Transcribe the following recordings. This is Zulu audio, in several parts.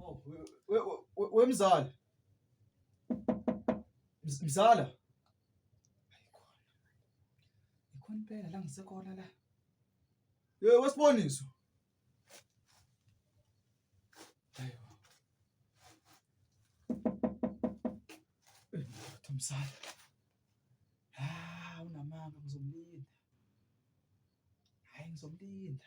Oh, wemzala. Mzala. Ikhona impela la ngisekhona la. Yey wesiboniso. Mzala. Ah, unamanga ngizomlinda. Hayi ngizomlinda.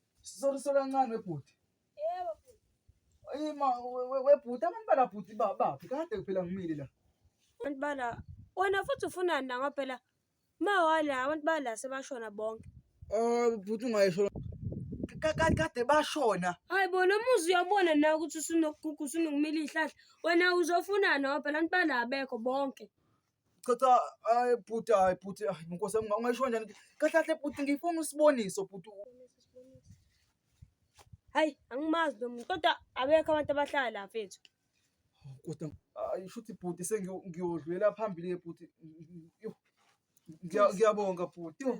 Sisoliswe kancane webhuti. Yebo bhuti. Ayima webhuti abantu bala bhuti babaphi kade kuphela ngimile la. Abantu bala wena futhi ufunani na ngoba phela ma wala abantu bala sebashona bonke. Oh bhuti ungayisho kade kade bashona. Hayi bona umuzi uyabona na ukuthi usunokugugu usunokumila ihlahla. Wena uzofunani ngoba phela abantu bala abekho bonke. cha cha hayi bhuti hayi bhuti hayi nkosi yami ungayisho kanjani kahle kahle bhuti ngifuna usiboniso bhuti hayi angimazi lo muntu kodwa abekho abantu abahlala la mfethu kodwa hayi shuthi bhuti sengiyodlulela phambili ke bhuti Yo, ngiya- ngiyabonga bhuti Yo,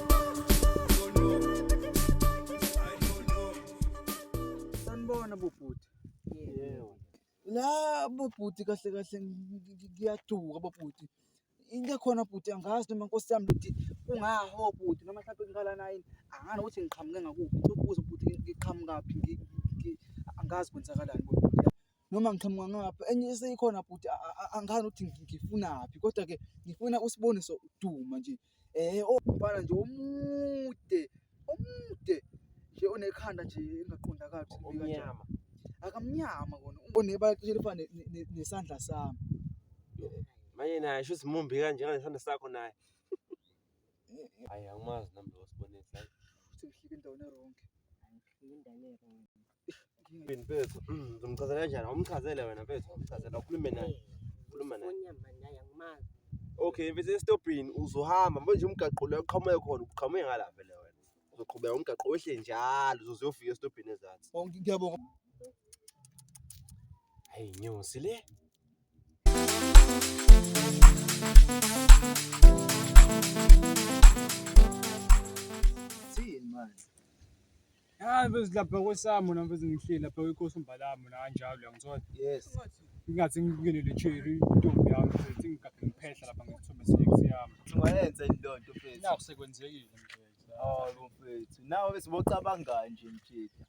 Sanibona bobhuti. Yebo. La bobhuti kahle kahle ngiyaduka bobhuti. Into ekhona bhuti angazi noma nkosi yami ukuthi kungaho bhuti noma mhlawumbe ngiqala nayi angani ukuthi ngiqhamuke ngakuphi. Ngicela ukubuza bhuti ngiqhamukaphi angazi kwenzakalani bobhuti. noma ngiqhamuka ngapha enye seyikhona bhuti angani ukuthi ngifunaphi kodwa ke ngifuna usiboniso duma nje eh ombala oh, nje omude omude nje onekhanda nje engaqondakali ukuthi omnyama akamnyama kona onebala cishe lifana nesandla sami manje naye sho simumbi kanje kanesandla sakho naye hayi angimazi nami lo sibonisa ukuthi ngihlike endaweni eronke ngihlike endaweni eronke Yini mfethu? Mm, Ngizomchazela kanjani? Awumchazele wena mfethu, awumchazele ukhulume naye. Khuluma naye. Onyama naye angimazi. Okay, mfethu esitobhini uzohamba manje umgaqo lo uqhamuke khona, uqhamuke ngala vele wena. Uzoqhubeka umgaqo wehle njalo uzoze uyofika esitobhini ezansi. Oh, ngi- Ngiyabonga. Hayi nyosi le. Hayi mfethu lapha kwesamo na mfethu ngihleli lapha kwekhosi umbalamo na kanjalo uyangithola. Yes. Ingathi ngibukele le cherry intombi yami mfethu ngigade ngiphehla lapha ngesithombe sex yami. Ungayenza into nto mfethu. Naku sekwenzekile mfethu. Hawu mfethu. Nawe bese bocabanga nje mfethu.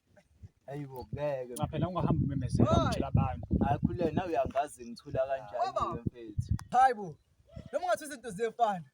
Hayibo ngeke. Cha phela ungahambi umemezela ngitshela abantu. Akhule nawe uyangazi ngithula kanjani mfethu. Hayibo. Noma ungathi izinto ziyefana.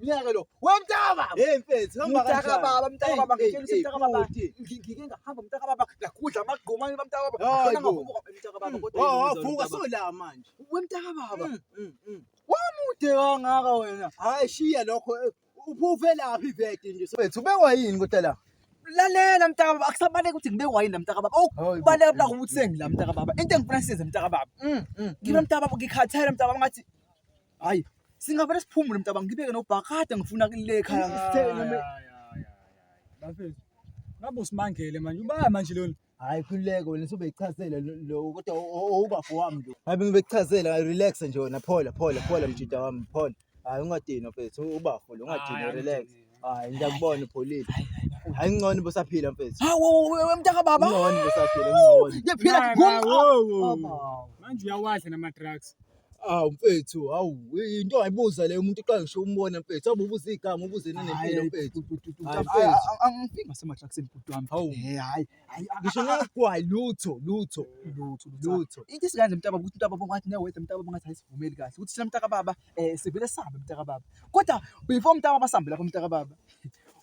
Ngiyeke lo. Wemntaka. Hey mfethu, hamba kanjani? Mntaka baba, mntaka baba, ngitshela ukuthi mntaka baba. Ngike ngahamba mntaka baba, ngakudla amagquma ni mntaka baba. Khona ngavuka mntaka baba kodwa. Oh, wavuka so la manje. Wemntaka baba. Mm, mm, mm. Wamude kangaka wena. Hayi shiya lokho. Eh, Uphufe laphi vete nje. Mfethu, ubekwa yini kodwa la? lalela mntaka baba akusabaleki ukuthi ngibe wayini la mntaka baba okubaleka bula ukuthi sengila mntaka baba into engifuna siyenze mntaka baba mm, mm, ngibe mm. mntaka baba ngikhathele mntaka baba ngathi Hayi, singavele siphumule mntaba ngibeke nobhakade ngifuna kule ekhaya ngisitheke noma Bafethu. Ngabe usimangele manje. Ubaya manje lona. Hayi khululeke wena sobe ichazela lo kodwa owubafo wami lo. Hayi bengibechazelwa relax nje wena phola phola phola mjida wami phola. Hayi ungadini mfethu ubafo lo ungadini relax. Hayi ngiyakubona upholile. Hayi ngcono bosaphila mfethu. Hawu wewe mntaka baba. Ngcono bosaphila ngcono. Ngiyaphila Mama, ngomqondo. wo, wo, wo. Manje uyawadla nama-drugs Awu mfethu, awu into ayibuza le umuntu uqala ngisho umbona mfethu. Awu ubuza igama, ubuze nanempilo mfethu. Angifiki ngasematraksini bhuti wami. Hawu. Eh, hayi, hayi. Ngisho ngagwayi lutho, lutho, lutho, lutho. Into isikanje mntaba ukuthi mntaba bongathi newethe mntaba bongathi ayisivumeli kahle. Ukuthi sina mntaka baba eh sivele sambe mntaka baba. Kodwa before mntaka basambela kwa mntaka baba.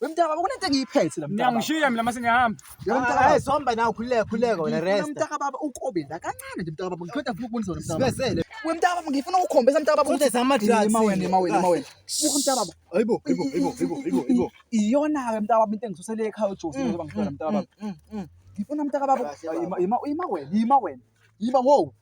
Wemntaka baba kunento engiyiphethe la mntaka. Ngiyangishiya mina mase ngiyahamba. Yebo mntaka baba. Hayi somba nawe khululeka khululeka wena Ngifuna rest. Mntaka baba ukobe la kancane nje mntaka baba ngiqeda ngifuna ukubonisa wena mntaka baba. Sibesele. We mntaka baba ngifuna ukukhombisa mntaka baba Futhi sama drugs. Ima wena ima wena ima wena. Buka mntaka baba. Hayibo, hayibo, hayibo, hayibo, hayibo, hayibo. Iyona ke mntaka baba into engisusele ekhaya uJosi njengoba ngifuna mntaka baba. Ngifuna mntaka baba. Ima ima ima wena ima wena. Ima wow.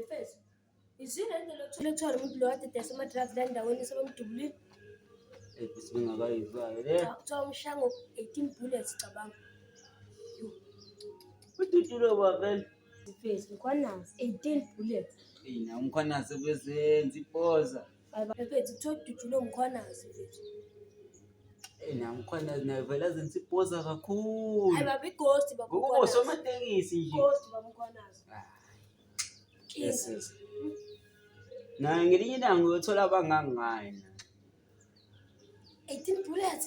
Efesi. Izina indlela yokuthola ethwala umuntu lo kade edayisa ama-drugs la endaweni sebemdubulile. Efesi bengakayizwayo le. Cha, Kuthiwa umshango 18 bullets cabanga. Ududulo kwavele. Efesi mkhwanazi 18 bullets. Eyi na umkhwanazi obezenza ipoza. Baphethu kuthiwa kudutshulwe ngukhwanazi mfethu. Eh, Namkhwanazi naye vele azenza ipoza kakhulu. Hayi baba ighosti baba Ngokuba ukhwanazi. usomatekisi nje. Ighosti baba ukhwanazi. Inkinga. Yes, yes. Naye ngelinye ilanga uyothola abangangaye. naye. 18 bullets.